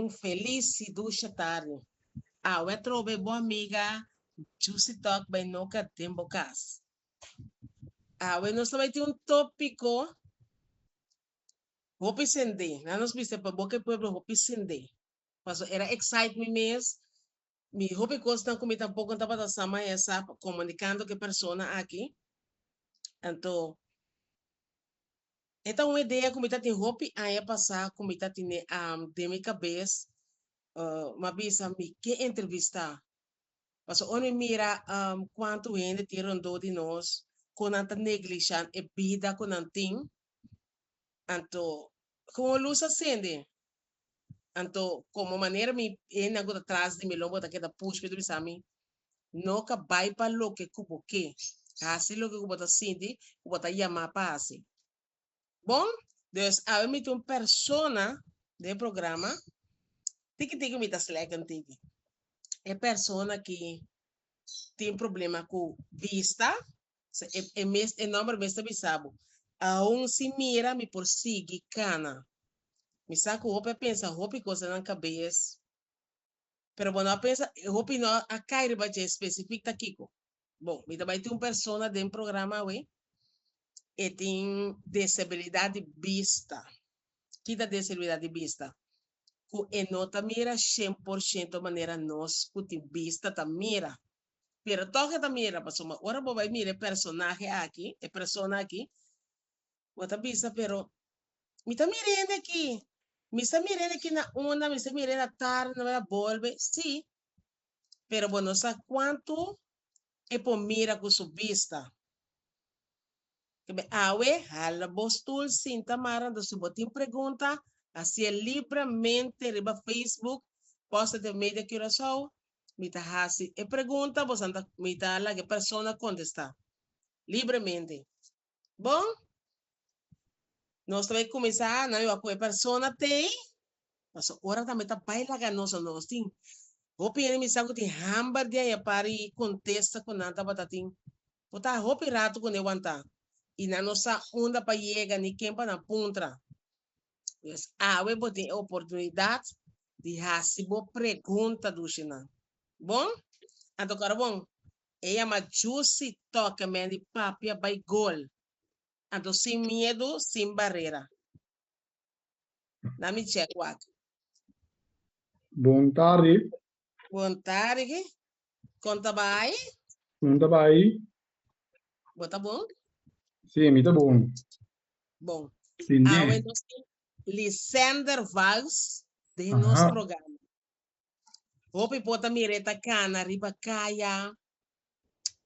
Un felis y dusha tarde. Awe trobe e bo amiga Jucy Tok bay noka den bo cas. Awe nos ta bay tin un topico hopi sende, nan nos bisa pa Boca del Pueblo hopi sende, paso era excite mi mes Mi hopi cosnan cu mi tampoco no tabata sa ma esap comunicando cu e persona aki. Anto, e ta un idea cu mi ta tin hopi aña pasa cu mi ta tine den mi cabes, mi a bisa mi ke entrevista. Pasobra ora mi mira cuanto hende tin rondó di nos cu nan ta negligiá e bida cu nan tin, Anto, con un luz a sende. Anto, como manera mi ene cu ta tras di mi lo bo ta keda push mi ta bisa mi, No ka bay pa loke cu bo ke. Haci loke cu bo ta sinti cu bo ta yama pa haci. Bon, dus awe mi ta un persona den e programa tiki tiki mi ta slechten tiki. E persona ki tin problema cu bista. So e e mes e nomber mes ta bisa bo, Aun si mira mi por sigui cana. Mi sa cu hopi a pensa hopi cosanan cabes, pero bo no a pensa hopi no a cay riba dje specific ta kico. Bon, mi ta bay tin un persona den programa awe e tin disabilidad di bista. Ki ta disabilidad di bista? Cu e no ta mira cien por ciento manera nos cu tin bista ta mira. Pero tòg e ta mira, pasobra ora bo bai mira e personahe aki, e persona aki, bo ta bisa, pero mi ta mira hende aki, mi sa mira hende aki na una, mi sa mira hende atarde, mi ta mira hende a bolbe, sí, pero bo no sa kuantu e por mira ku su bista. Enbe awe hala bo stul, sinta mara, anto si bo tin pregunta, hacié libremente riba Facebook, Voz Intermedia Curaçao, mi ta hasi e pregunta boso a ta mi ta laga e persona kontestá libremente. Bon, nos ta bai kuminsá, nan lo a ku e persona tei, paso ora ta mi ta bai laga nos, so nos tin hopi hende mi sa ku tin hamber di aya para i kontesta ku nan tabata tin por ta hopi rato kuné wantá i nan no sa unda pa yega ni ken pa nan puntra. Pues awe bo tin e oportunidat di hasi bo pregunta dushi nan. Bon? Anto kor bon, e yama Jusi Toke Men di Papia Bai Gol. Anto sin miedu, sin barera. Na mi chek wak. Bon tardi, Konta di ki? Konta bai? Konta bai? Bo ta bon? Si, mi ta bon. Bon. Awe nos tin Lisender Vals den nos programa. Hopi por ta mira e ta cana riba caya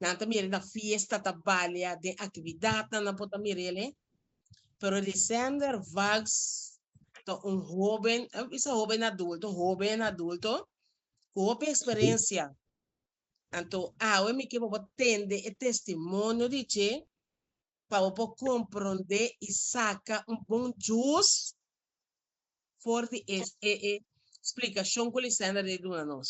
Nan ta mira na fiesta ta balia den actividadnan nan por ta mira el he. Pero Desender Vags ta un hoben, a bisa hoben adulto, hoben adulto cu hopi experiencia. Anto awe mi ke bobo tende e testimonio di che pa bo por comprende y saca un bon jus for di e explicacion cu Desender a duna nos.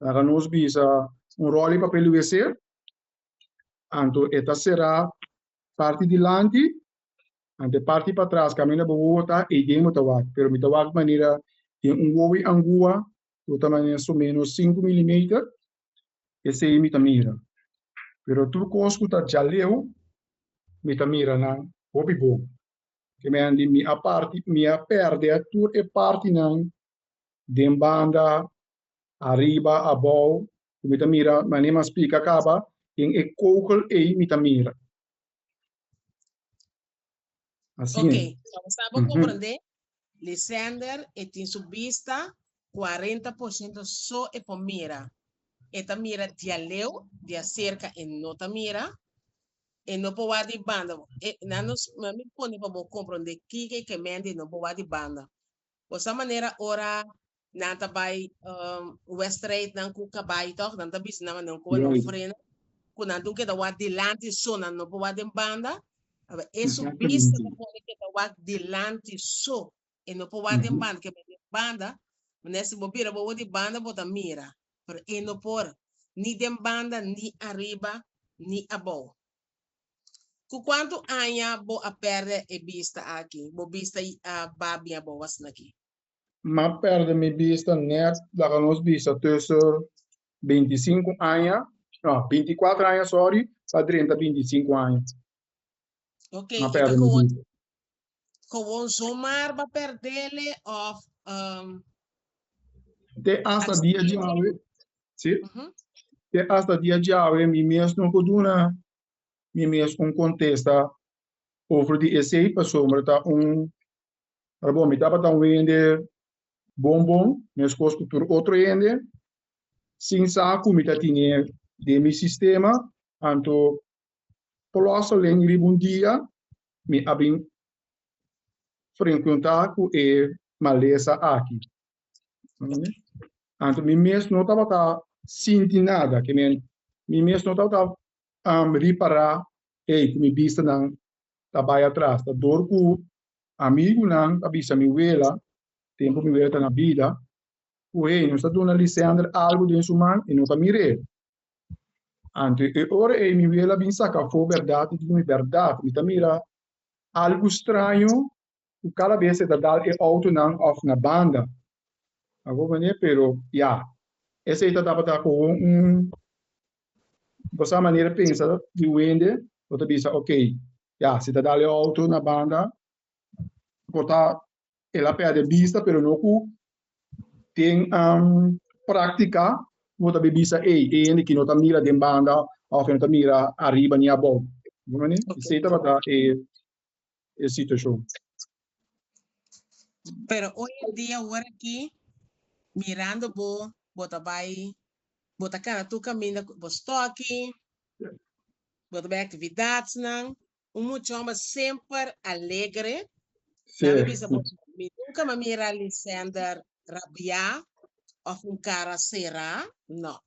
Laga nos bisa un ròl di papel UVC. Anto e ta será parti dilanti, anto e parti patras kaminda bo wowo ta eiden bo ta wak, pero mi ta wak manera den un wowo di angua ku ta manera so menos sinku milimeter, esei mi ta mira. Pero tur kos ku ta djaleu mi ta mira nan hopi bo. Ke men mi a parti mi a pèrdè tur e partinan den banda Ariba, abou, ku mi ta mira mane mas pika kaba den e kogel ei mi ta mira. Asina. Ok, tawba sa bo komprendé, Lisender e tin su bista cuarenta por ciento so e por mira. E ta mira dialeu, diacerca e no ta mira. E no por wak di banda. E, nan nos, mi pone pa bo komprendé kiko e ke mende e no por wak di banda. Bo sa manera ora nan ta bai westrijd nan ku kabai tòg? Nan ta bisa nan manera ku nan frena, ku nan dun keda wak dilanti so, nan no por wak den banda. Hala e su bista ta pone keda wak dilanti so, e no por wak den banda, ke bai den banda. Manera si bo bira bo wak di banda bo ta mira, pero e no por, ni den banda, ni ariba, ni abou. Cu cuantu aña bo a perde e bista aki? Bo bista a ba bien bo was naki. M'a perde mi bista net laga nos bista tussen binti i sinku aña, no, binti i kuater aña, sorry, pa drenta binti i sinku aña. Ok, i ta gewoon zomar ba perdele of um, Te hasta dia Así. djawe, sí, mhm, te hasta dia djawe mi mes no ko duna mi mes un contesta over di esei pasobra ta un arbon mi tabata wende bonbon meskos ku tur otro hende sin sa ku mi ta tine den mi sistema anto Plosa len riba un dia mi a bin frenkuntá ku e malesa aki. Anto mi mes no tabata sinti nada, ke men mi mes no tabata ripará ei ku mi bistanan ta bai atras. Ta dor ku amigunan a bisa mi wela, tempu mi wela ta na bida, ku hei nos ta duna Lisender algu den su man i no ta mir'e. Anto e ora ei mi weel a bin saka afó bèrdat di mi bèrdat. Mi ta mira algu straño ku kada bes e ta dal e outonan òf na banda. A bo manera e pero ya esei ta tabata komo un bo sa manera pensa di wende bo ta bisa okay ya si ta dal e outo na banda por ta el a pèrdè bista pero no ku den práktika bo ta bin bisa ey e hende ki no ta mira den banda òf e no ta mira ariba ni abou bo mane esei tabata e situashon. Pero oy en dia awor aki mirando bo bo ta bai bo ta kanda tur kaminda ku bo stòki bo ta bai aktividatnan Un muchomba semper alegre. Nan mi bisa bo, mi nunca mi a mira Lisender rabia of un cara sera, no.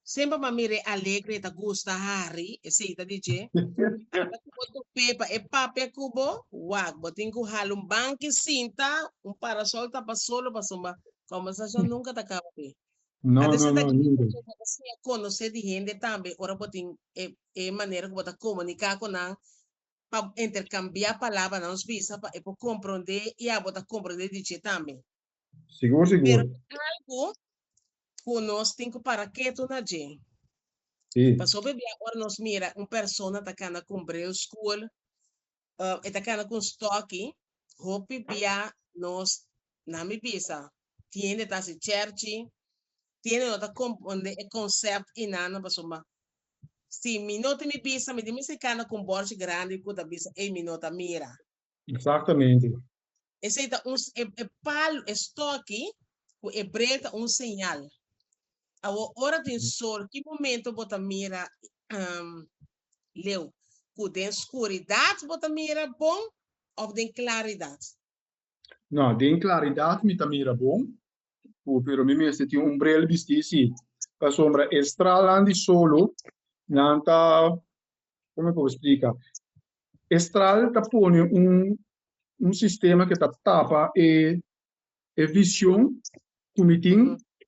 Semper mi a mira e alegre, e ta gusta hari, esey ta di dje. Ora cu bo top'e pa e papia cu bo, wak, bo tin cu hala un banki sinta, un parasol tapa solo pasobra conversacion nunca ta caba ahi. No, no, no, nunca. Ora cu bo tin e. e manera ku bo ta komuniká ku nan, pa interkambiá palabra na nos bisa pa e por komprondé i abo ta komprondé di dje tambe. Sigur sigur. Pero ta algu ku nos tin ku para ketu na dje. Si. Pasobra bia ora nos mira un persona ta kanda ku un breu skul, Um, e ta cana cu un stoki, hopi bia nos na mi bisa, tiende ta haci cherchi, tiende no ta componde e concept y nana paso ma si mi no tin mi bisa, mi tin mester cana cu un borchi grandi cu ta bisa ey mi no ta mira. Exactamente. Esei ta un, e, e palu, e stòki, ku e bre ta un señal. Awo ora tin sol, ki momento bo ta mira um, leu? Ku den skuridat bo ta mira bon òf den klaridat? No, den klaridat mi ta mira bon, ku pero mi mester tin un brel bistí, si, pasobra e stralnan di solo nan ta, kome ku bo splika? E stral ta pone un un sistema ke ta tapa e e vision ku mi tin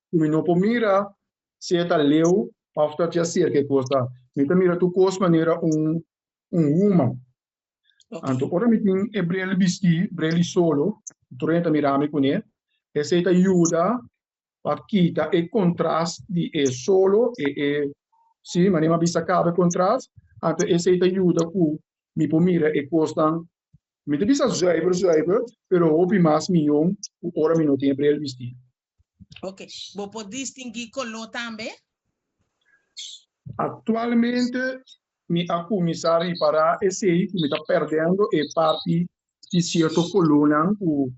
ku mi no por mira si e ta leu of ta cia cerca e cos ta mi ta mira tur cos manera un un human anto ora mi tin e brel bisti brel i solo tur hende ta mira mi cune esey ta yuda pa kita e kontras di e solo e e si manera mi a bisa kaba e kontras anto esei ta yuda ku mi por mira e kosnan mi ta bisa zuiver zuiver pero hopi mas miyon ku ora mi no tin e brel bisti. Oke bo por distingui koló tambe? Aktualmente mi a kuminsá ripará esei ku mi ta pèrdendo e parti di sierto kolónan ku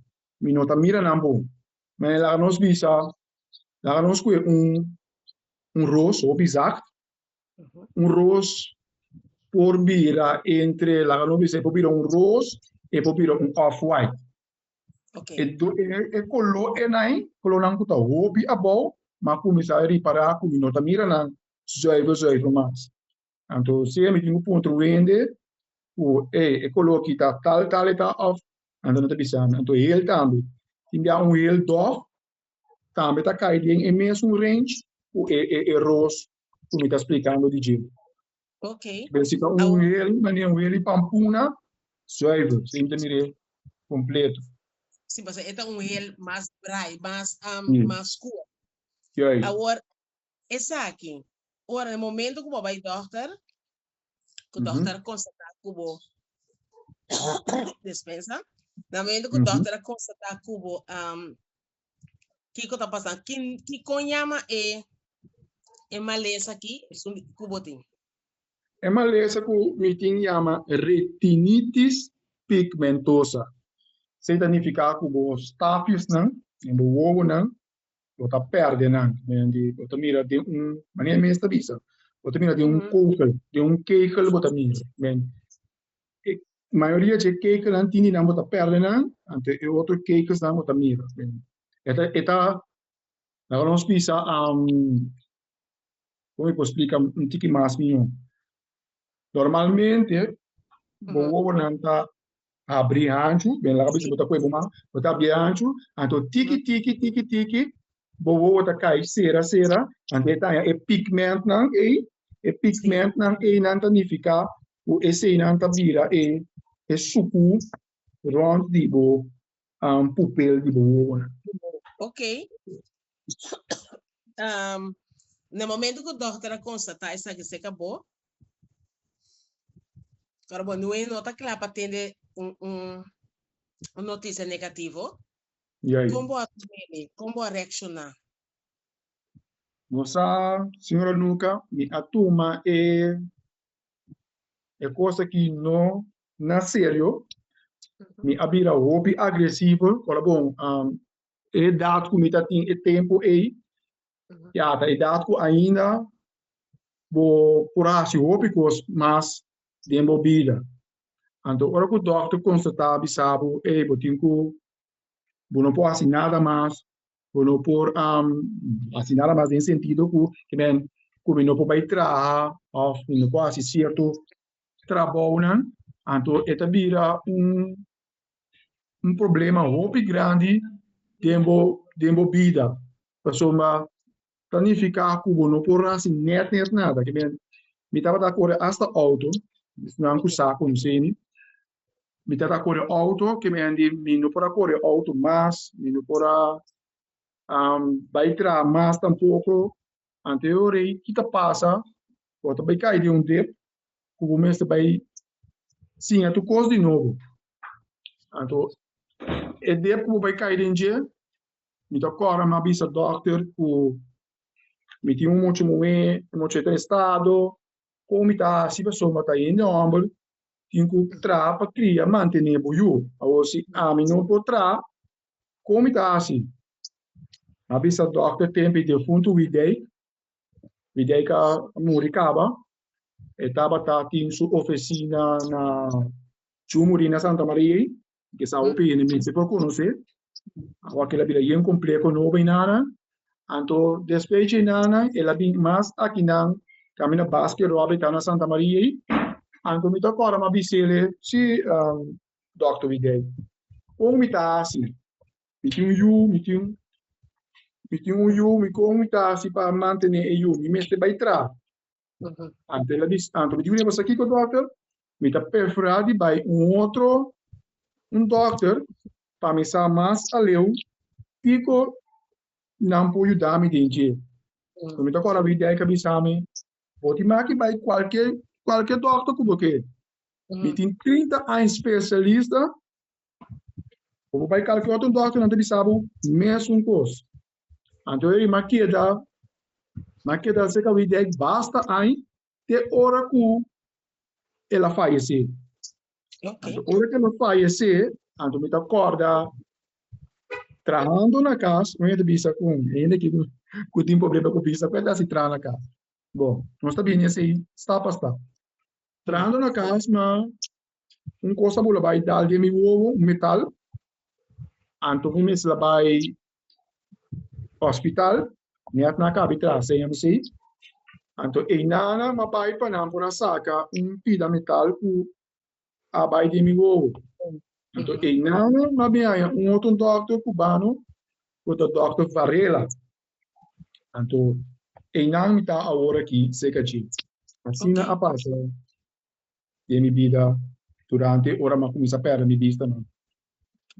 mi no ta mira nan bon Me laga nos bisa, laga nos koe un un ros hopi zakt, un ros por bira entre laga nos bisa e por bira un ros e por bira un off white. Okay. E do e, e color enai, colornan ku ta hopi abou, ma kuminsá ripara ku mi no ta mira nan zuiver zuiver mas. Anto si e mitin ku punto wende ku ey e koló aki ta tal tal eta òf anto nan ta bisa mi anto hel tambe tin bia un hel dòf tambe ta kai den e mesun range ku e e e ros ku mi ta splikando di dje. Pero si ta un hel manera un hel di pampuna zuiver esei mi ta mira e kompleto. Si pasobra e ta un hel mas drai mas mas skur. Juist. Awor Esaki, ora na e momento ku bo a bai dòkter, ku dòkter a konstatá ku bo, dispensa, na e momento ku dòkter a konstatá ku bo kiko ta pasando, ki kikon yama e e malesa aki ku bo tin? E malesa ku mi tin yama retinitis pigmentosa. Esei ta nifiká ku bo stafisnan den bo wowonan bo ta perde nan mediante bo ta mira den un manera mes ta bisa bo ta mira den un kokel den un kekel bo ta mira den mayoria dje kekel nan tin di nan bo ta perde nan anto e otro kekels nan bo ta mira esta e ta laga nos bisa ho mi por splika un tiki mas miyon normalmente bo wowonan ta Abri hanchu, bem laga bisi bo ta koe bo man, bo ta abri e hanchu, anto tiki tiki tiki tiki bo wowo ta kai sera sera, anto e taña e pigmentnan ei, e pigmentnan einan ta nifiká ku eseinan ta bira e suku rònt di bo um pupel di bo wowo nan. Ok. um, na momento cu dokter a constata esaki seca bo, ora bo nue no ta cla pa tende un, un, un noticia negativo, yeah, yeah. con bo a reme, con bo a reacciona? Mosa, señora Luca, mi a tuma e, e cosa ki no Na serio, mi a bira hopi agresivo, ora bon, e edat ku mi ta tin e tempu ei, ya ta edat ku ainda bo por hasi hopi kos mas den bo bida. Anto ora ku dòkter konstatá a bisa bo, ey, bo tin ku bo no por hasi nada mas, bo no por hasi nada mas den sentido ku kimen ku mi no por bai traha òf mi no por hasi sierto trabounan, anto e ta bira un un problema hopi grandi den bo den bo bida pasobra ta nifiká ku bo no por hasi nèt nèt nada. Ke men, mi tabata kore hasta outo, nan ku sa konsemi, mi tabata kore outo kemendi mi no por a kore outo mas, mi no por a bai traha mas tampoko. Anterior ei ki ta pasa, bo ta bai kai den un dep ku bo mester bai siña tur kos di nobo. Anto e dep ku bo bai kai den dje mi ta kòrda mi a bisa dòkter ku mi tin un mocho muhé, e mocho ei ta den stado kon mi ta hasi pasobra mi ta hende hòmber, tin ku traha pa kria, mantené bo yu. Awor si ami no por traha Kon mi ta hasi? Mi a bisa dòkter tempu i difuntu Widey. Widey ka muri kaba. E tabata tin su ofesina na ciu muri na Santa Maria ei, ke sa hopi hende mester por konosé. Awakila bira yen kompleho nobo ei nana. Anto despues dje nana el a bini mas akinan kaminda na Basket Robbie ta na Santa Maria ei. Anto mi ta kòrda mi a bisele, si Dòkter Miguel, Kon mi ta hasi? Mi tin un yu, mi tin mi tin un yu, mi kon mi ta hasi pa mantené e yu? Mi mester bai traha. Anto el a bis anto mi di weni boso kiko dòkter, mi ta preferá di bai un otro un dòkter pa mi sa mas aleu kiko nan por yuda mi den dje. Lo mi ta kòrda Miguel a bisa mi, Bo tin maki bai kualke kualke dòkter ku bo ke. Mi tin trinta aña spesialista, bo por bai kalki otro dòkter nan ta bisa bo mesun kos. Anto e rima keda, nan keda serka di dei basta aña te ora ku el a fayesé. Anto ora ku el a fayesé, anto mi ta kòrda trahando na kas, mi ta bisa kun hende ku tin problema ku bista ku e ta hasi traha na kas. Bo, nos ta bini esei stap pa stap. Trahando na cas na un cos abu la bay dal den mi wowo un metal anto mi mes la bay hospital mi a tna cabi traha seña mi sey anto ey nana mi a bay pa nan por a saca un pida metal cu a bay den mi wowo anto ey nana mi a bin haya un otro doctor cubano cu ta doctor varela Anto einan mi ta awor aki seka dje. Asina a pasa den mi bida durante ora mi a kuminsá pèrdè mi bista nan.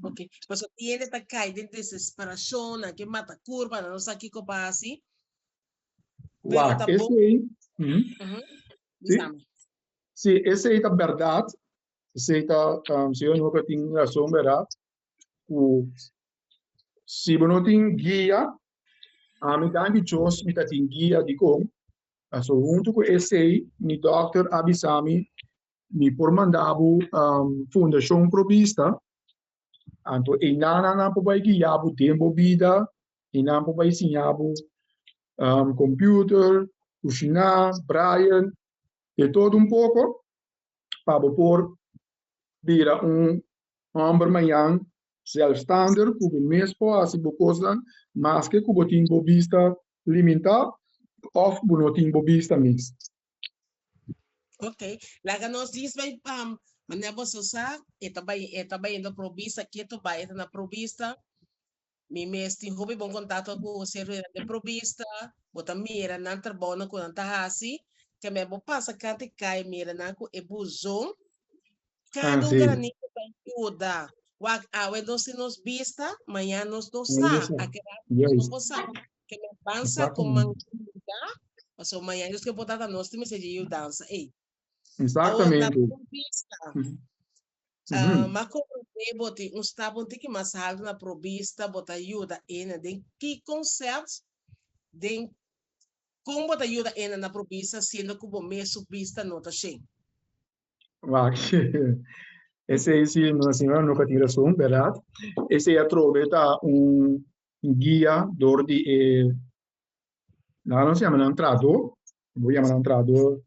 Oke, pasobra i hende ta kai den desesperashon, nan ke mata kurpa, nan no sa kiko pa hasi, pero ta bon. Wak, esei, si, si esei ta bèrdat, esei ta, Señor, mi hopi a tin razon, bèrdat, ku si bo no tin guia ami tan dichos mi ta tin guia dikon pasobra huntu ku esei mi dòkter a bisa mi mi por manda bo fundashon probista anto e nannan nan por bai guia bo den bo bida i nan por bai siña bo komputer kushiná braien de todo un poko pa bo por bira un Homber mayan, zelfstander cu bo mes por haci bo cosnan maske cu bo tin bo bista limintá of bo no tin bo bista mes. Ok, laga nos dis bay manera boso sa, e ta bay, e ta bayendo pro bista, ke to bay e ta na pro bista, Mi mes tin hopi bon kontakto ku Hosé Rueda den Provista, bo ta mira nan trabounan ku nan ta hasi, te mei bo pasa kant di kai mira nan ku e buszon, kada un granito ta yuda, wak awe nos tin nos bista, mañan nos no sa, akedat nos no por sa, te mei ban sa koman yuda, pasobra mañan Dios ke por data nos tin mester dje yudansa ei. Awor na Provista, Ujú. M'a comprendé bo tin un stap un tiki mas haltu na probista bo ta yuda ene. Den ki concept? Den con bo ta yuda ene na probista siendo cu bo mes su bista no ta shen? Wak, esei si nos siñora no ka tin rason, berdad? Esei atrobe ta un guia dor di e, nan lo yama nan traador, bo yama nan traador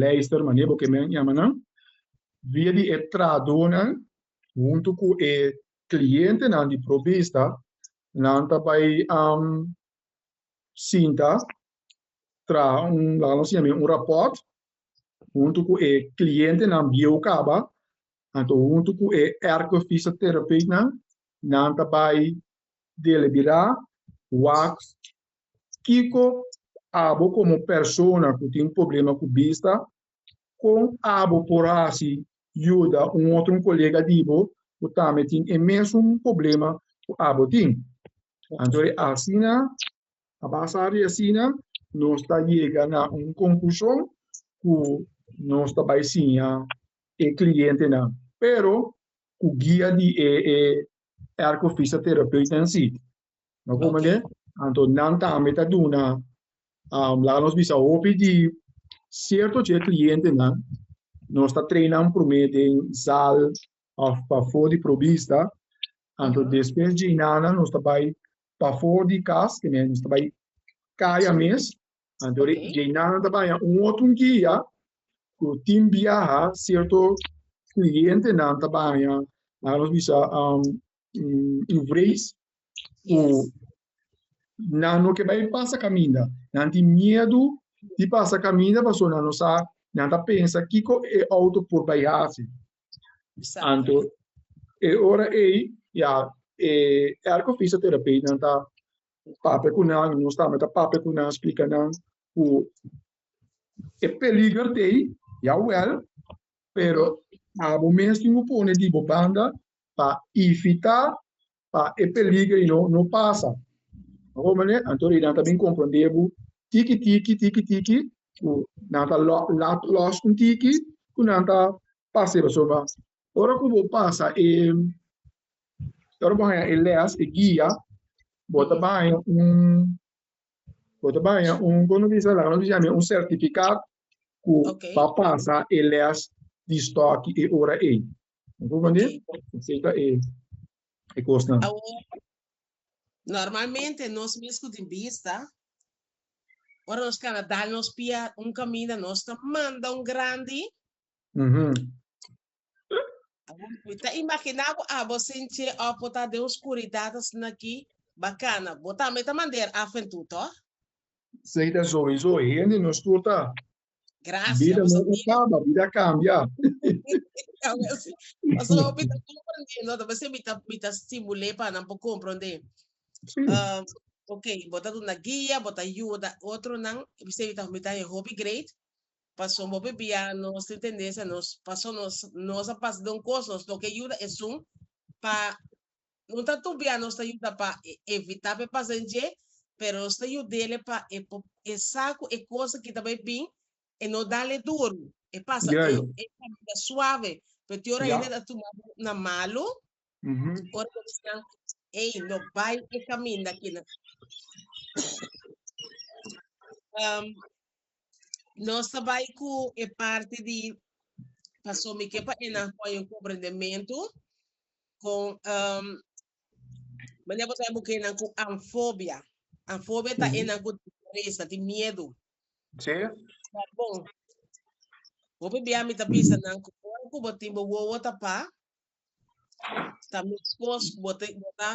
Leister, manera bo ke men yama nan, via di e trahadónan huntu ku e klientenan di probista, nan ta bai sinta traha un, laga nos yama e un rapòrt huntu ku e klientenan bieu kaba, anto huntu ku e ergofisioterapeutennan, nan ta bai deliberá wak Kiko abo komo persona ku tin problema ku bista? Kon abo por hasi yuda un otro kolega di bo ku tambe tin e mesun problema ku abo tin? Anto e asina, a basa di asina nos ta yega na un konklushon ku nos ta bai siña e klientenan, pero ku guia di e erko-fisioterapeuta en si. No por mande? Anto nan tambe ta duna, um, laga nos bisa hopi di cierto che clientenan, nos ta trainan promé den zal of pafó di probista, anto despues dje nan nos ta bai pafó di kas, ke men nos ta bai kaya mes, anto ri dje nan ta baña un otro guia ku tin biaha cierto clientenan ta baña, laga nos bisa, um, un vrees ku nan no ke bai pasa kaminda. Nan tin miedu di pasa kaminda pasobra nan no sa, nan ta pensa kiko e outo por bai hasi. Anto e ora ei ya e elke fisioterapeut nan ta papia ku nan, nos tambe ta papia ku nan splika nan ku e peliger t'ei, ya wèl, pero abo mes tin bo pone di bo banda pa ifitá pa e peliger y no no pasa abo mane anto e nan ta bin comprende bo tiki tiki tiki tiki ku nan ta lo laat los un tiki ku nan ta pase pasobra nan ora ku bo pasa e ora ku bo haña e les e guia bo ta baña un bo ta baña un komo nan bisa la nan bisa ami un certificat ku ta pasa e lès di stòki e ora ei. Mi konprende? Esei ta e e kosnan. Awor, normalmente nos misku tin bista, ora nos keda dal nos pia un kaminda, nos ta manda un grandi. Mhm. Awor, mi ta imaginá ku abo sinche òf bo ta den oscuridat asina aki, bakana, bo tambe ta manera af en tur, tò? Sei ta soi soi hende no scuta. Gracias. Bida no ta caba, bida cambia. Paso hopi ta comprende, no ta bese mi ta mi ta stimule pa nan po comprende. Sí. Um, ok, bota duna guia, bota ayuda otro nan, bese mi ta mi ta hopi great. Paso hopi bia nos tin tendencia nos paso nos nos a pas don cos nos toke ayuda esun pa No ta tubia nos ta yuda pa e evitá pa e pasa den dje, pero nos ta yud'e pa e por pensa ku e kos aki ta bai bin, e no dal'e duru, e pasa e e kamina suave. Pero tin ora hende ta tuma bo na malu, ora bo bisa nan, Ey, no bai e kaminda akinan. Nos ta bai ku e parti di Pasobra mi ke pa e nan hoi un komprendementu. con um, mania cosa e buke nan con anfobia. Anfobia ta e nan con destreza, ti miedo. Sí. Ta bon. Hopi bia mi ta bisa nan con ora cu bo tin bo wowo ta pa, ta miskos bo te bo ta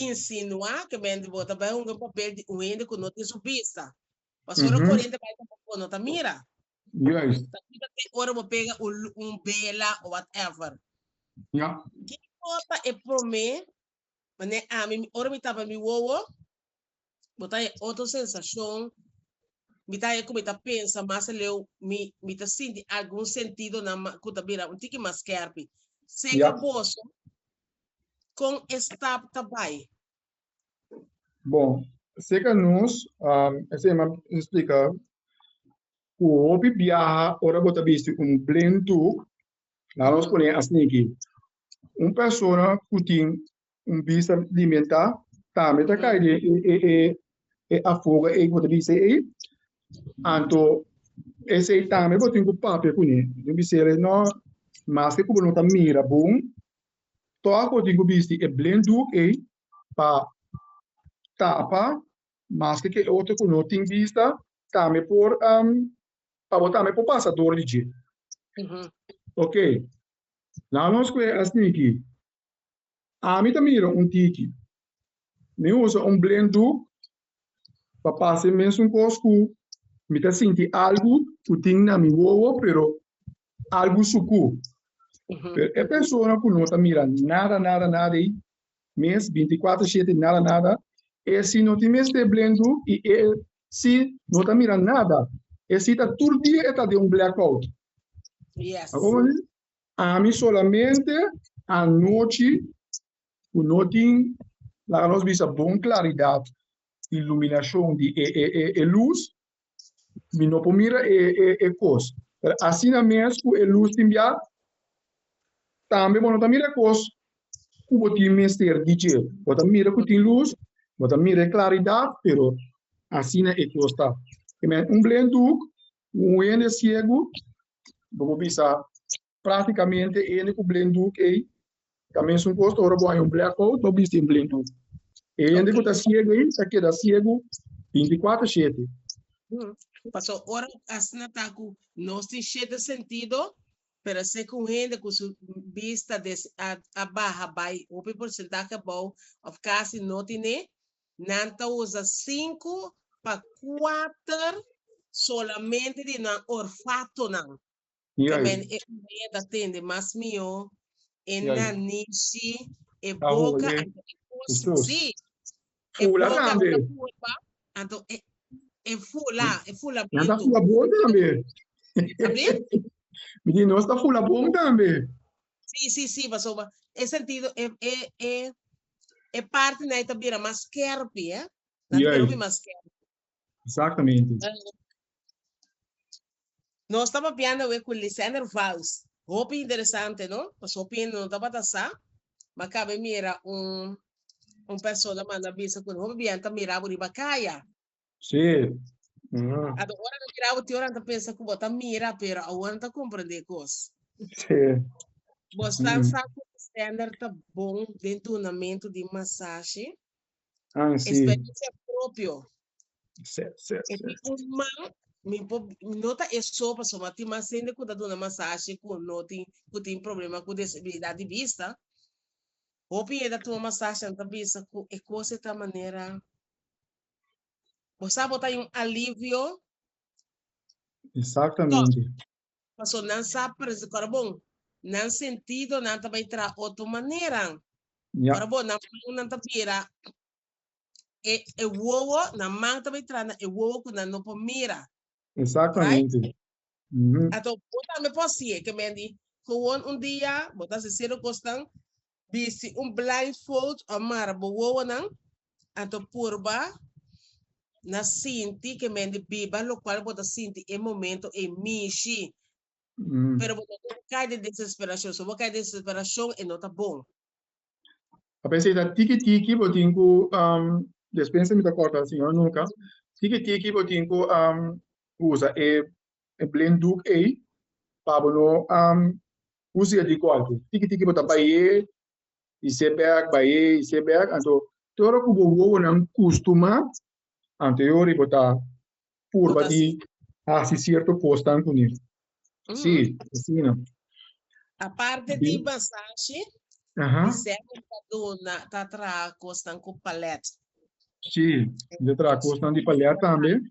insinua que men bo ta bai un papel di un hende cu no tin su vista. Pasora Mhm. corriente bai ta bo no ta mira. Juist. Ta kiba tin ora bo pega un lu un bela o whatever. Ja. Kiko ta e prome manera ami mi ora mi tapa mi wowo bo ta e otro sensacion mi ta e ku mi ta pensa mas aleu mi mi ta sinti algun sentidonan ma ku ta bira un tiki mas skerpi. Seke boso kon e stap ta bai? Bon, seca nos, um, ese yema explica cu hopi biaha ora bo ta bisti un plain tuk, la nos pone asniki. Un persona cu tin un vista limita tambe ta kai den e, e, e, e afoga ei cu bo ta bisti ei. Anto, ese tambe bo tin cu papia cune. Tin bisele, no, mas que cu bo no ta mira bon, Tòg bo tin ku bisti e blen dùk ei pa tapa maske ke otro ku no tin bista tambe por pa bo tambe por pasa dor di dje. Oke, laga nos kue asina ki, ami ta mira un tiki, mi usa un blen dùk Ta pasa e mesun cos cu mi ta sinti algu cu tin na mi wowo pero algu sucu pero e persona cu no ta mira nada nada nada ey mes binti cuatro shete nada nada esi no tin mester blendu y esi no ta mira nada esi ta tur dia e ta den un black out ami solamente anochi ku no tin laga nos bisa bon klaridat di luminashon di e lus mi no por mira e kos pero asina mes ku e lus tin bia tambe bo no ta mira e kos ku bo tin mester di dje bo ta mira ku tin lus bo ta mira e klaridat pero asina e kos ta un blenduk un wende siegu bo por bisa Práktikamente hende ku blinddoek ei ta mesun kos ora bo haña un blackout bo bisti un blinddoek. E hende ku ta siegu ei ta keda siegu binti kuater shete. Paso ora asina ta ku nos tin shete sentido, pero a ser ku un hende ku su bist ta des a baha bai hopi porsentahe abou òf kasi no tin'é, nan ta usa sinku pa kuater solamente di nan orfatonan. Yay. Amen e oreha ta tende mas mihó, e Yay. nanishi, e Ta boka hoye. anto e kos. Jesus. Sí, e Fula boka tambe. anda hue pa anto e e fula, e fula Nan ta bientu. fula bon tambe. Abi? Mi di nos ta fula bon tambe. Sí, sí, sí, pasobra e sentido e e e e parti nai ta bira mas skerpi, eh? Na ta bira Yay. hopi mas skerpi. Exactamente. Nos ta papiando awe cu Lisender Vals. Hopi interesante no? Pasobra hopi hende no tabata sa, ma cabe mira un un persona manda bisa cu hopi biaha ta mira bo riba caya. Sí. Mm. Ato ora no mira bo te ora ta pensa cu bo ta mira pero awor no ta comprende cos. Sí. Bos ta sa cu Lisender ta bon den dunamento di masashi? Ang si. Experiencia propio. Se, se, se. Epi un man, mi por, no ta eso, paso ma tin mas hende ku ta duna masashi ku no tin, ku tin problema ku desibilidat di bista. Hopi hende a tuma masashi an ta bisa ku e kos e ta manera, bo sa bo ta yon alivio. Exactamente. Pasobra nan sa prese ku arbon. Nan sentidonan ta bai traha otro maneran. Ku arbon nan mannan ta mira e wowo, nan man ta bai traha na e wowo ku nan no por mira. Exactamente. Right? Anto bo tambe por hasi'e. Ke men di, Gewoon un dia bo ta hasi serio kosnan, bisti un blindfold o mara bo wowonan, anto purba na sinti ke men di biba lokual bo ta sinti e momento ei mishi. Pero bo no debe kai den desesperashon. Si bo kai den desesperashon e no ta bon. Papia si ta tiki tiki bo tin ku, Yo spinsa mi ta kòrta Siñor nunka, tiki tiki bo tin ku usa e blinddoek ei pa bo no Musica di corte. Tiki tiki bo ta baye y se bek, baye y se bek. Anto te ora cu bo wowonan custuma, anto e ora y bo ta purba di haci cierto cosnan cu ne. Si, asina. Aparte di masashi, Lisette ta duna, ta traha cosnan cu palette. Si, e ta traha cosnan di palette tambe.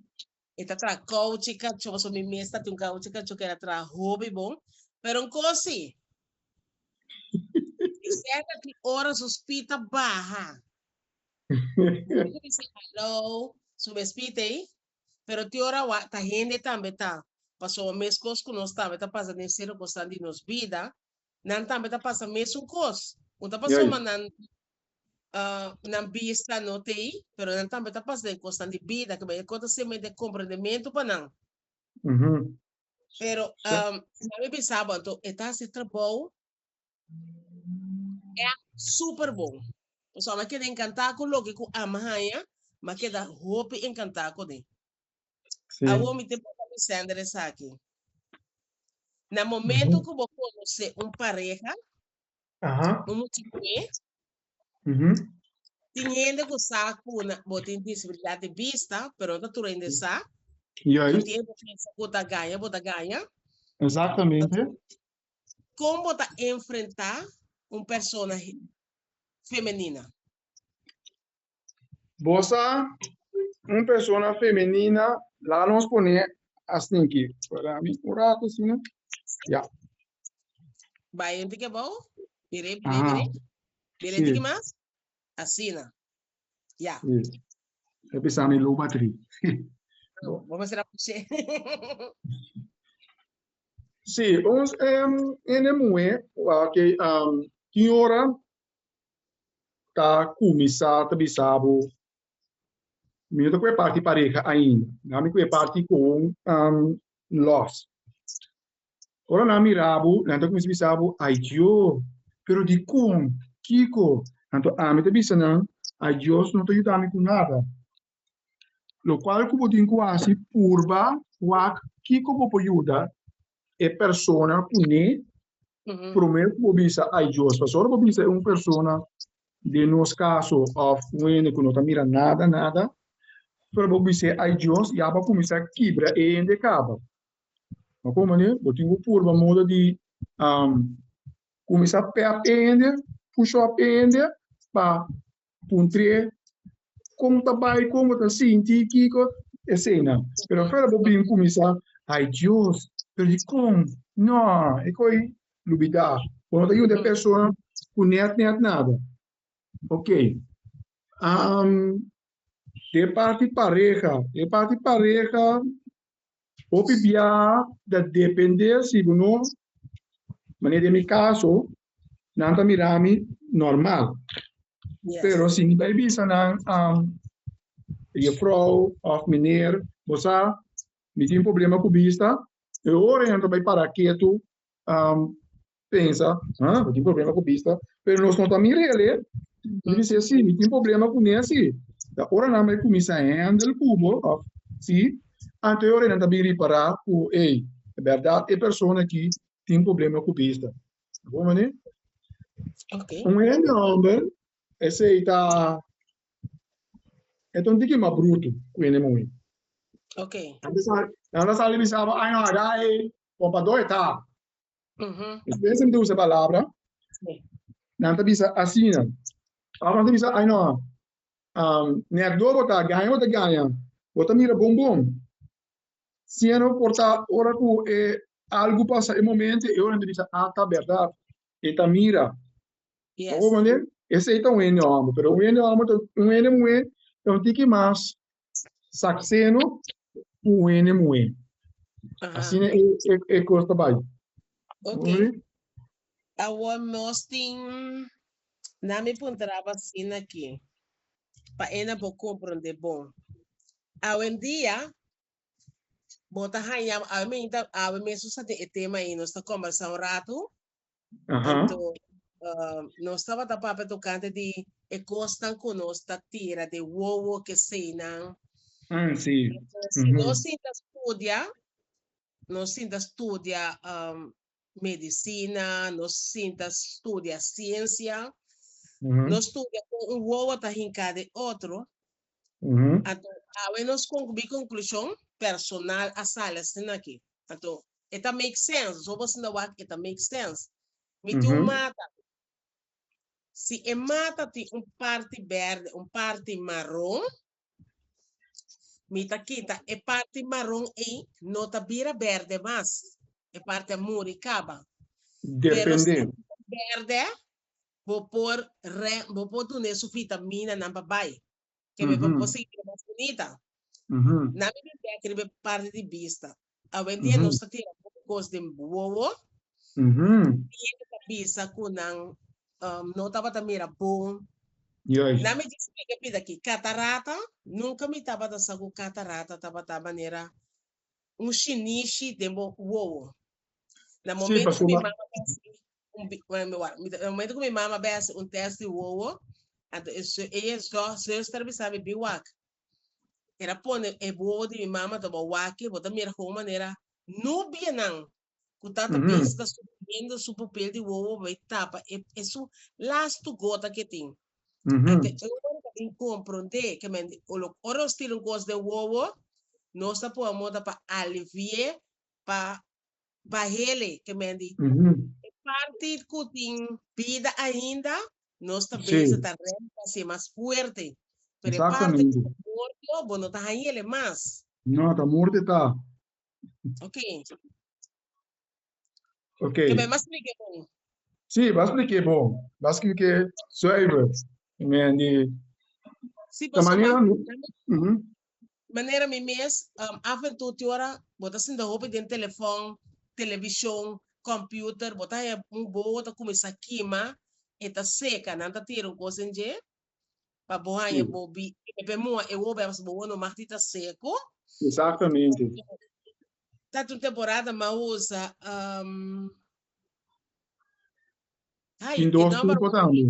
E ta traha kouchi kachó, pasobra mi mes ta tin un kouchi kachó ke ta traha hopi bon. Pero un kos sí, mi sènter tin ora su spit ta baha. Hende ku bisha haló, su mes spit ei, pero tin ora wak ta hende tambe ta, pasobra meskos ku nos tambe ta pasa den serio kosnan di nos bida, Nan tambe ta pasa mesun kos. Un ta pasó ma nan nan bista no ta ei, pero nan tambe ta pasa den kosnan di bida, ke bai e kos ta ser mente komprendementu pa nan. Pero nan mi bisa bo anto e ta hasi trabou èk super bon. Pasobra a keda enkantá ku loke ku Alma haña, mi a keda hopi enkantá kuné. Sí. Awor mi ta pregunta mi Sander esaki. Na momento Ujú. cu bo conoce un pareja, Aha. un mucho mujer, Ujú. tin gente cu sa cu na- bo tin disabilidad de vista, pero no ta tur hende sa, no Juist. tin hende pensa cu ta gana, bo ta gana. Exactamente. Con bo ta enfrenta un persona he- femenina? Bo sa un persona femenina la nos pone astinki spera mi un rato si no ya. Bai hente ki abou bire bire aha bire bire hente si ki mas asina ya. si e bisa mi lo batri bo. Bo mester a pushe. si ons hende muhe tin ora ta kuminsá ta bisa bo, Mi no ta kue parti pareha ainda. Nan mi kue parti kon lòs. Ora nan mira bo, nan ta kuminsá bisa bo, Ayo, pero dikon? Kiko? Anto ami ta bisa nan, Adios no ta yuda mi ku nada. Locual cu bo tin cu haci purba wak kico bo por yuda e persona cu ne prome cu bo bisa ai Dios pasobra ora bo bisa e un persona den nos caso of un hende cu no ta mira nada nada ora bo bisa ai Dios ya bo a cuminsa kibra e hende caba bo a comprende bo tin cu purba modo di cuminsa pep e hende push up e hende pa Un tre kon ta bai kon bo ta sinti kiko esena pero afera bo bin kuminsa ay dios pero dikon no e kos ei lubida bo no ta yuda e persona ku net net nada ok de parti pareha de parti pareha Hopi biaha ta depende si bo no manera di mi caso nan ta mira mi normal pero si mi bai bisa nan juffrouw of meneer bo sa mi tin problema cu bista e ora nan ta bai para ketu pensa ah mi tin problema ku bista pero nos no ta mira el'e mi di se si mi tin problema ku nesi ta ora nan bai kuminsa hendel kubo òf si anto ora nan ta bin ripará ku ey bèrdat e persona aki tin problema ku bista ta bon mané un hende hòmber esei ta e ta un tiki mas brutu ku hende muhé nan ta sali bisaba ay no ada ey kompadó e ta. Despues nan ta usa palabra, nan ta bisa asina, ora nan ta bisa ai no, mi ardor bo ta gaña bo ta gaña, bo ta mira bon bon, siña no por ta ora ku e algu pasa e momento e ora nan ta bisa a ta bèrdat, e ta mira, bo kompran de? Esei ta un hende òmber, pero un hende òmber ta un hende muhé ta un tiki mas Sakseno ku wene muhé. Asina e kos ta bai. Ok. Awo nos tin, na mi puntraba asina aki pa Ena bo komprondé bon. Awe en dia bo ta haña, awe mi ta, awe mesun sa tin e tema ei, nos ta kombersá un ratu. Anto, nos tabata papia tocante di e cosnan cu nos ta tira di wowo kesenan. Ah, si. Si nos sinta studia, nos sinta studia medicina, nos sinta studia ciencia, nos studia con un wowo ta hinca di otro, Anto, awe nos conclui conclusion personal a sali asina aki. Anto, e ta make sense. Nos a wordo asina wak, e ta make sense. Mi tin un mata. Si e mata tin un parti berde, un parti maron, mi ta kita e parti maron ei no ta bira berde mas. E parti a muri, caba. Pero si e bira berde, bo por re, bo por duna e sufrita mina nan pa bai. Ke be bo por sigui bira mas bunita. Nan mi bin bek riba e parti di bista. Awendia nos ta tira hopi cos den bowowo. Siempre ta bisa cu nan no tabata mira bon. Nan mi djis kiko e pida aki, catarata. Nunca mi tabata sa cu catarata tabata manera un shinishi den bo wowo. Na momento ku mi mama a bai hasi un tèst di wowo, anto e e zùster a bisa mi, Bin wak. Era pone e wowo di mi mama tabata wak, bo ta mira hou manera nubienan ku tata bes ta sufriendo su pupel di wowo a bai tapa e e su lastu gota ke tin. Enta e ora ta bin komprondé ke men olo ora nos tira un kos den wowo nos ta pone moda pa alivié pa bahele ke men di e parti ku tin bida ainda nos ta besa ta rènt pa hasié mas fuerte pero e parti ku ta morto bo no ta haña ele mas. No ta morto e ta. Ok. Ok. Ke bai mas like bon. Sí, mas like bon. Mas like zuiver. Men di... Sí, pasobra... Ta manera mi... Mm -hmm. Manera mi mes, um, af en toe ora, bo ta sinta hopi den telefon, television, computer, bo ta heb un bo, ta cuminsa kima, e ta seca, nan ta tira un cos en dje, pa bo haña Si. bo bi i papia muha e hopi aos bo wou no mati ta seku. Exactamente. Tat un temporada mahosa um hay Tin dos kedaba tipo tambe.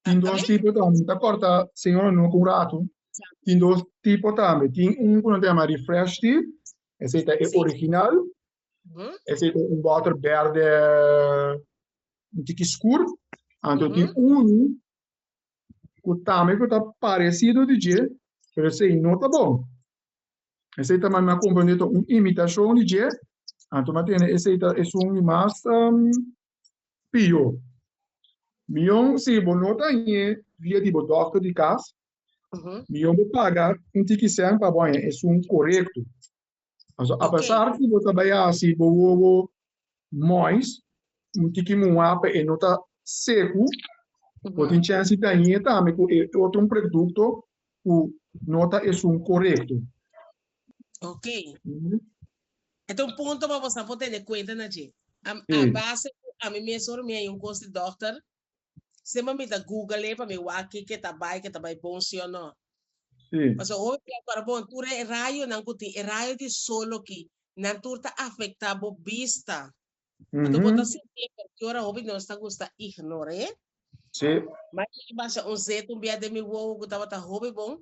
Tin Amen. dos tipo tambe. Mi ta corta señor Anungo cu un rato. Tin dos tipo tambe. Tin un cu nan ta yama refresh tea. Esey ta e Si. original. Mhm. Esey ta un water berde un tiki scur. Anto tin Mhm. unu ku tambe ku ta paresido di dje, pero esei no ta bon. Esei ta manda komprendé ta un imitashon di dje, anto mi a tende esei ta esun di mas pió. Mion si bo no ta hañ'é via di bo dòkter di kas, mion bo paga un tiki sènt pa bo haña esun korekto. Paso a pesar cu bo ta bay haci bo wowo mois un tiki muha pa e no ta secu, bo tin chance di dañe tambe cu e otro un producto cu no ta esun corecto. Ok. E ta un punto pa bo sa por tene cuenta na dje. A base cu ami mes horan mi a yin un cos di dokter Sema mi ta google pa mi wak kiko ta bai, ke ta bai bon si o no. Sí. Pasobra hopi plas para bon, tur e rayonan ku tin, e rayo di sol oki, nan tur ta afektá bo bista. Anto bo ta sinti e por kiora hopi di nos ta gusta ignor'é. Sí. Mai i basa un zetu bia den mi wowo ku tabata hopi bon.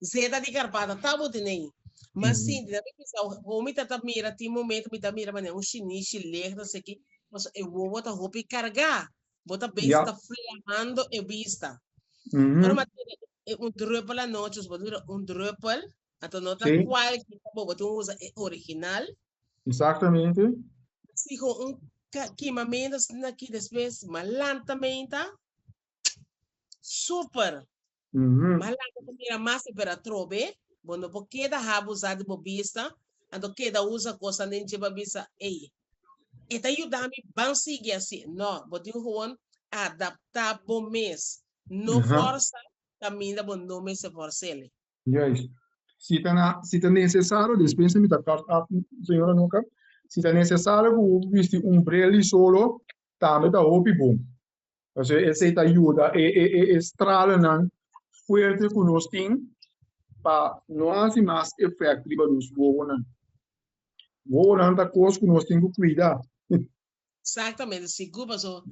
Zeta di Garbata ta bo dinei. Ma Mhm. Cindy, na mi bisa, ho mi ta ta mira, tin momento mi ta mira manera un shinishi lege, no sé qué, paso e wowo ta hopi cargá. Bo ta bes, Ja. ta flamando e bista. Mhm. Ora ma tin e un druppel anochi, us bo mira un druppel, anto no ta Sí. cualkier ta bobo, tin usa e original. Exactamente. Si ho un ca- quimamento asina aquí después, ma lantamenta, super. Bo a laga bo mira mas e bera trobe, bo no por keda haba usa di bo bista, anto keda usa cosnan den dje pa bisa, Ey, e ta yuda mi, ban sigui así. No, bo tin gewoon adapta bo mes, no forsa caminda bo no mester forsele. Juist. Si ta na, si ta necesario, despues mi ta cut off señora Anoka, si ta necesario cu bo bisti un breli solo, tambe ta hopi bon. Pasobra esei ta yuda e e e e stralanan fuerte ku nos tin pa no hasi mas efèkt riba nos wowonan. Wowonan ta kos ku nos tin ku kuida. Eksaktamente, sigur, pasobra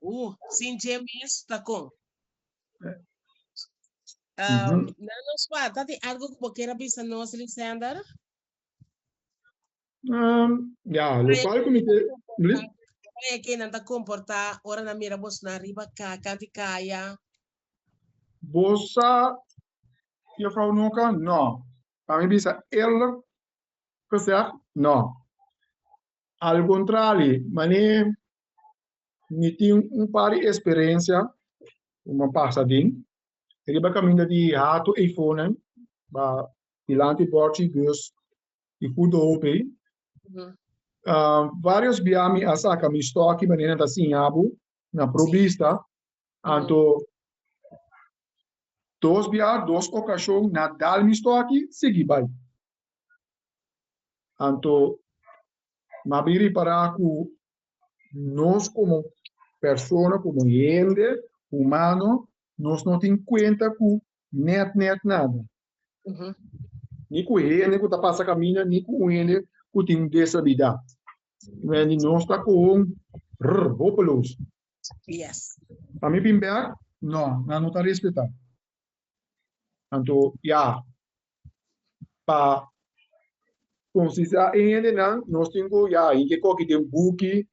uh sin dje mes ta kon? Nan nos pa, ta tin algu ku bo kier a bisa nos, Lisender? Um, ya, lokal comité, please. Kaya que nan ta comporta ora na mira bos na riba ka, kanti kaya. Bosa, yo fau noka, no. Pa mi bisa elder gezegd, no. Al contrari, mane mi tin un par di experiencia cu mi pasa den, riba caminda di hato eifonen, ba dilanti borchi bus, y punto ok. varios bia mi a saca mi stock y manera nan ta siña bo na pro bista anto dos bia dos ocasion na dal mi stock y sigui bay anto m'a bin ripara cu nos como persona como hende humano nos no tin cuenta cu Net net nada. Ni ku hende ku ta pasa kaminda ni ku un hende ku tin desabidat. Wendy, nos ta kon rr hopeloso. Yes. Pa mi bin bèk, no, nan no ta respetá. Anto ya, pa konsisá e hendenan nos tin ku ya hinke koki den buki,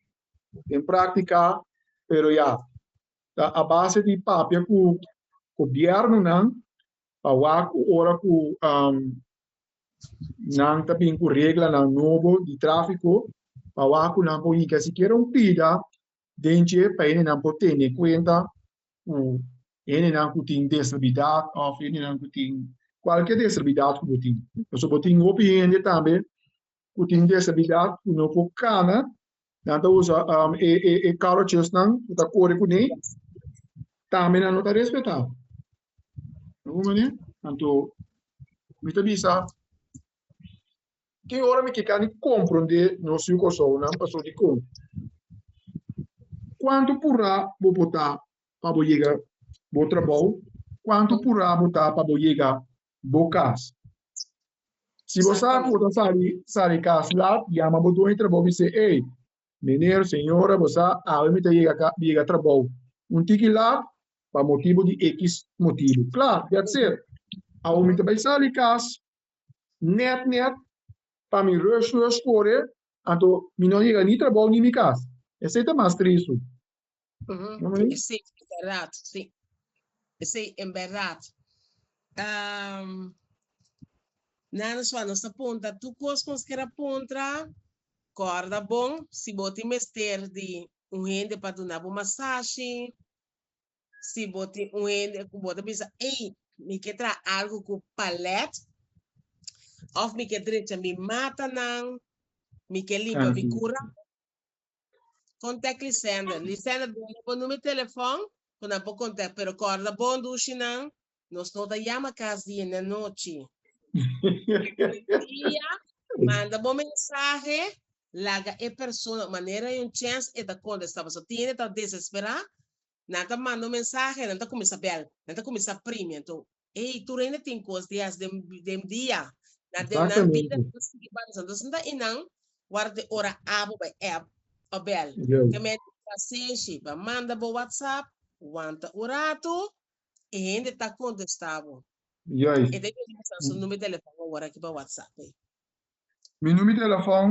den praktiká, pero ya ta a base di papia ku gobièrnunan pa wak ku ora ku nan ta bin ku reglanan nobo di tráfiko pa wak ku nan por hika sikiera un pida den dje pa hendenan por tene kuenta ku hendenan ku tin deservidat òf hendenan ku tin kualke deservidat ku bo tin pasobra bo tin hopi hende tambe ku tin desabilidat ku no por kana nan ta usa e karochesnan ku ta kore kuné tambe nan no ta respetá ta un manera anto mi ta bisa ki ora mi ke kandi komprondé nos yu Kòrsounan pasobra dikon kuantu purá bo por ta pa bo yega bo trabou kuantu purá bo ta pa bo yega. bo cas. Si bo sa cu bo ta sali sali cas lat, yama bo dueño di trabou y sey, Ey, meneer, señora, bo sa, awe mi ta yega ca, yega trabou un tiki lat pa motibu di e ki motibu. Klaar, that's it. Awe mi ta bay sali cas net net pa mi rush rush core, anto mi no yega ni trabou ni mi cas. Esey ta mas tristu. Ujú, Sí, en verdad, sí. Sí, en verdad. Um, Nana Swan nos apunta, tu cos con skera puntra, corda bon, si boti mester di un hende pa duna bo masashi, si boti un hende ku bota bisa, ei, mi ke tra algo ku palet, of mi ke drecha mi mata nan, mi ke limpa mi Así. kura, Contact Lisenda. Lisenda duna bo nume telefon cu nan por contact. Pero corda bon dushi nan, nos no ta yama cas di e nan nochi. Dia, manda bo mensahe, laga e persona manera hay un chance e ta contesta. Paso tin e ta desespera Nan ta manda un mensahe e nan ta kuminsá bèl. Nan ta kuminsá primi. Anto, ei, tur hende tin kos di hasi den den dia. Na den nan bida nan ta sigui balansa. Anto, esei ta inan wòrdu di ora abo bai èp pa bèl. Te mete trasenshi, bai manda bo whatsapp, wanta un ratu, e hende ta kontestá bo. E ta yuda bo sa su number di telefòn awor aki pa whatsapp ei. Mi number di telefòn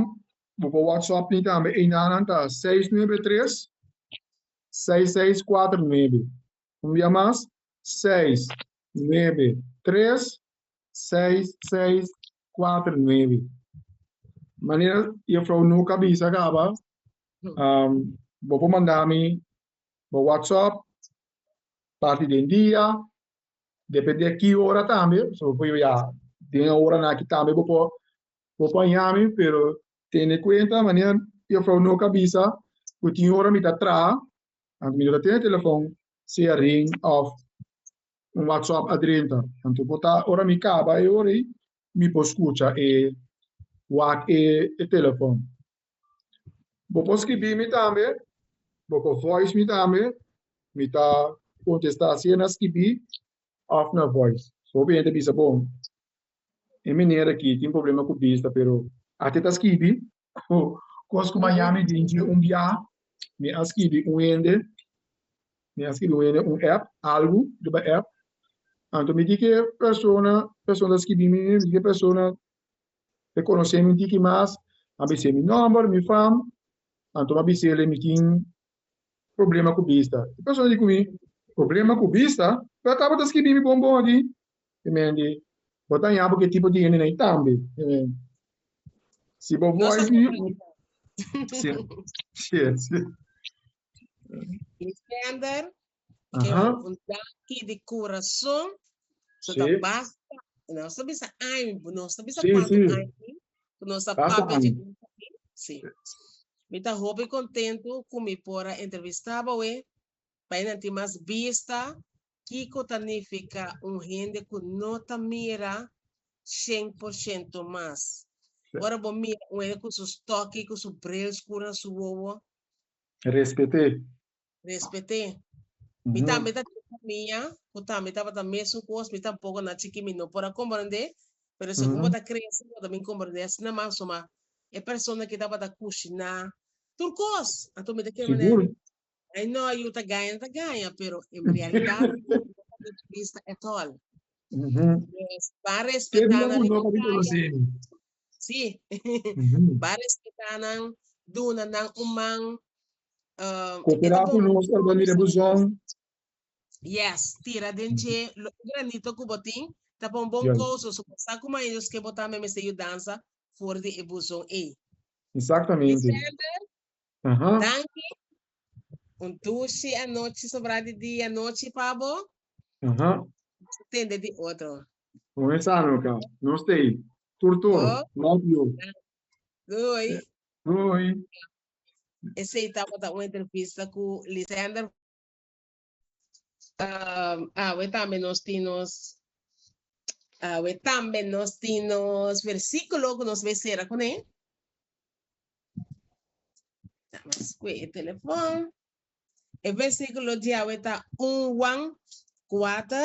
bo pa whatsapp mi tambe. Einan nan ta seis nuebe tres, seis seis cuatro nuebe un bia mas seis nuebe tres seis seis cuatro nuebe manera juffrouw Nook a bisa caba bo por manda mi bo WhatsApp parti den dia depende aki ora tambe pasobra bo por yoe a den e ora aki tambe bo por Bo paña mi pero tene cuenta manera mi afro no ca bisa cu tin ora mi ta traha anto mi no ta tene telefon sea ring of un whatsapp adrenta anto bo ta ora mi caba e ora ey mi por scucha e wak e telefon bo por scribi mi tambe bo por voice mi tambe mi ta contesta sea na scribi of na voice so hopi hende ta bisa bon E meneer aki tin problema cu bista pero ate ta skibi cu cos cu maña mi bin dje un biaha mi a skibi un hende mi a skibi un hende un app algu riba app anto mi di ke persona persona ta skibi mi mi di ke persona e conoce mi un tiki mas a bis'e mi nomber mi fam anto mi a bisele mi tin Problema ku bista. E persona di ku mi problema ku bista lo a tabata skibi mi bon bon aki. Mi mendi, Bo ta haña bo ku e tipo di hende nei tambe. Mi mendi, Si bo Nos a wòrdu di tabata. Sier, sier, sier. Lisender, Ke Aha. un, un danki di kurason. So ta Sí. basta, nos ta bisa año, bu- nos ta bisa Sí, cuanto sí. año mi, ku nos ta Basta papia di año. un aki. Sí. Mi ta hopi contento ku mi por a entrevista boe, pa e nan tin mas bista kiko ta nifica un hende ku no ta mira shen por shento mas. Sí. Ora bo mira un hende ku su stoki, ku su bril scuro na su wowo, Respete. Respet'é. Mi tambe ta tin famia ku tambe tabata mesun kos, mi tampoco na chikí mi no por a komprendé, pero segun bo ta krese bo ta bin komprendé asina mas suma e persona ke tabata kushiná tur kos. Anto mi ta kere manera di ai no yu ta gaña ta gaña, pero en realidat no ta bin bista at all. Nos ta respetá nan libertad. Sí, baris kitanan duna nan un man. Um, Coopera con nos, hermano, mira buzón. Yes, tira den che lo granito que vos tin, tapa un bon cosa, so sa como ellos que vos también me se ayudanza for de e buzón e. Exactamente. December, Danki. Un tushi anochi sobra di dia anochi pa bo. Tende di otro. Moe sano aca. No stay. Tur tur. Love you. Doei. Doei. Esey tabata un entrevista cu Lisender. Um, awe tambe nos tin nos awe tambe nos tin nos versículo que nos becera con él. Estamos con el teléfono. El versículo de awe está 1 Juan 4,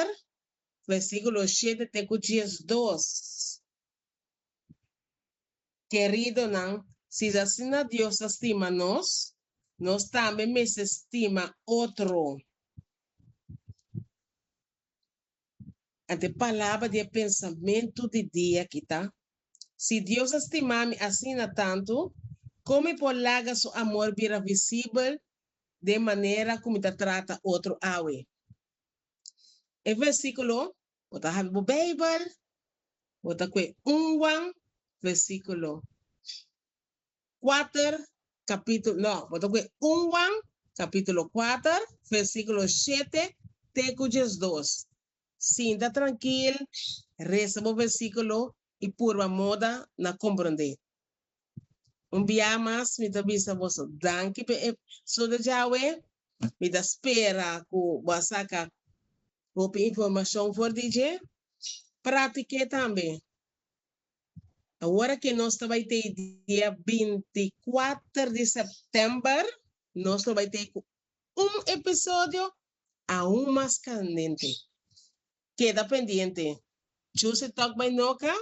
versículo 7 te 2. Keridonan, si es asina Dios ta stima nos, nos tambe mester stima otro. Ante palabra di e pensamentu di dia aki ta, Si Dios a stima mi asina tantu, kon mi por laga su amor bira visibel den manera ku mi ta trata otro awe? E versíkulo Bo ta habi bo Beibel, bo ta kue un wan versikulo kuater kapitul, no, bo ta kue un wan kapitulo kuater versikulo shete te ku diesdos. Sinta trankil, resa bo versikulo i purba moda na komprondé. Un bia mas mi ta bisa boso danki p'e episodio djawe. Mi ta spera ku bo a saka hopi informashon for di dje. Pratik'é tambe. Awor ke nos ta bai tei dia binti kuater di sèptèmber, nos lo bai tei ku un episodio aun mas kandente. Keda pendiente. Juicy Talk by Noka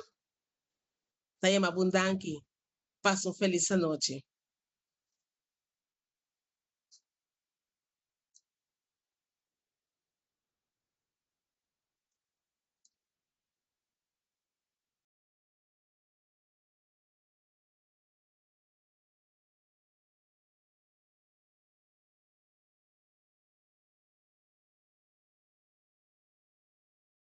ta yama bun danki. Pasa un felis anochi.